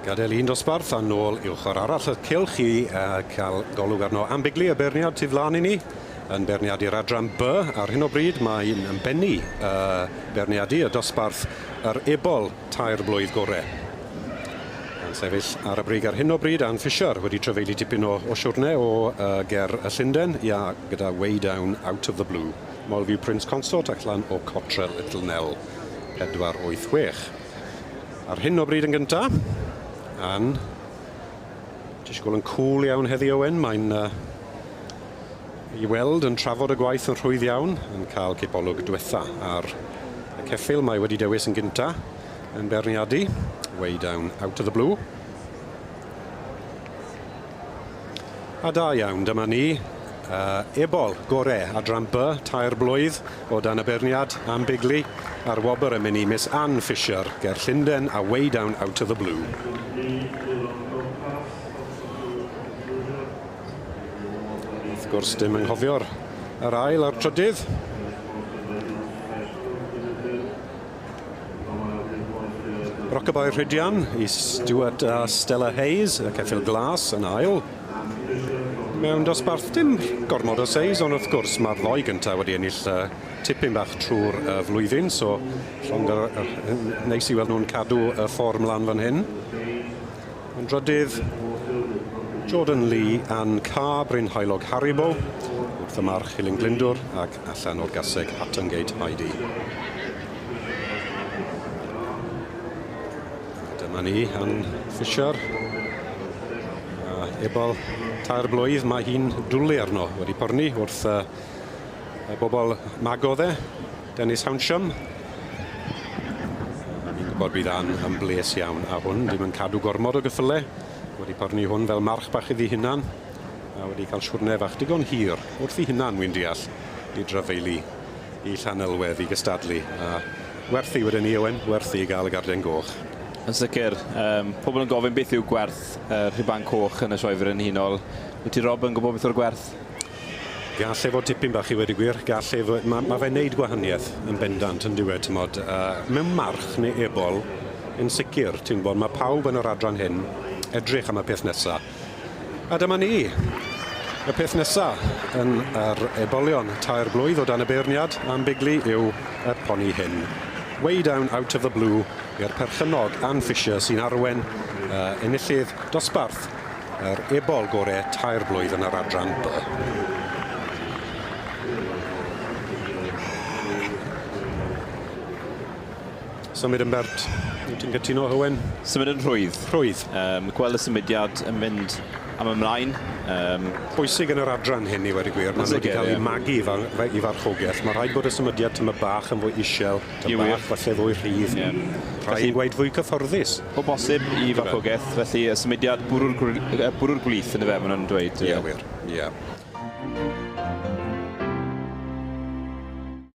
Gadael un dosbarth a nôl i'w chwar arall y cylch i uh, cael golwg arno am bigli y beirniad tu flaen i ni yn beirniadu'r adran B. Ar hyn o bryd mae'n bennu uh, beirniadu y dosbarth yr Ebol tair blwydd gore. Yn sefyll ar y brig ar hyn o bryd, Ann Fisher, wedi trafeilu tipyn o o siwrne o yy ger y Llunden, ia, gyda Way Down Out of the Blue, Molview Prince Consort ac lan o Cottrell Little Nell 486. Ar hyn o bryd yn gynta, Ann. Tish gwel yn cwl iawn heddi Owen, mae'n uh, i weld yn trafod y gwaith yn rhwydd iawn, yn cael cipolwg dwetha ar y ceffil mae wedi dewis yn gynta yn berniadu, way down out of the blue. A da iawn, dyma ni, Ebol, gore, adran B, tair blwydd, o dan y beirniad am Bigley, a'r wobr yn mynd i Miss Ann Fisher, ger Llundain a Way Down Out of the Blue. Rydym ni fydd o'n gwmpas os ydyw yn llwyddo i fyw mor ddoniol ag... Wrth gwrs dim anghofio'r yr ail a'r trydydd. Rockabye Rhydian i Stuart a Stella Hayes, y ceffyl glas yn ail. Mewn dosbarth dim gormod o seis ond wrth gwrs mae'r ddoi gyntaf wedi ennill yy tipyn bach trwy'r yy flwyddyn so llond yr yy yn neis i weld nhw'n cadw y ffordd mlan fan hyn. Yn drydydd Jordan Lee a'n ca Bryn Haelog Haribo wrth y march Hilyn Glyndwr ac allan o'r gaseg Hattongate Heidi. Dyma ni yn Fisher. A ebol tair blwydd mae hi'n dwlu arno wedi porni wrth uh, y bobl mago dde, Dennis Hawnsham. Fi'n gwybod bydd Ann yn bles iawn a hwn, ddim yn cadw gormod o gyffyle. Wedi porni hwn fel march bach iddi hunan a wedi cael siwrne fach digon hir wrth i hunan, wy'n deall, i dryfeili. i Llanelwedd i gystadlu a werthu wedyn ni Owen, werthu i gael y garden goch. Yn sicr. Yym, pobl yn gofyn beth yw gwerth y rhuban coch yn y Sioe Frenhinol. Wyt ti Rob yn gwybod beth yw'r gwerth? Gall e fod tipyn bach i wedi gwir, gall e fod... Mae, mae fe'n neud gwahaniaeth yn bendant yn diwedd, ti'n modd, uh, mewn march neu ebol, yn sicr, ti'n bod, mae pawb yn yr adran hyn edrych am y peth nesaf. A dyma ni! Y peth nesa yn yr ebolion tair blwydd o dan y beirniad am bigli yw y poni hyn. Way down out of the blue i'r perchennog Ann Fisher sy'n arwen y enillydd dosbarth yr ebol gore tair blwydd yn yr adran By. Symud yn bert. Wyt ti'n cytuno, Hywyn? Symud yn rhwydd. Rhwydd. Um, gweld y symudiad yn mynd am ymlaen. Um... Bwysig yn yr adran hyn i wedi gwir, maen nhw wedi cael eu magu i farchogaeth. Mae rhaid bod y symudiad tyma bach yn fwy isel, tyma bach falle fwy rhydd. Yeah. Rhaid i'n gweud fwy cyfforddus. O bosib i farchogaeth, felly y symudiad bwrw'r, bwrw'r gwlith yn y fe, maen nhw'n dweud. Ie, yeah, wir. Ie. Yeah.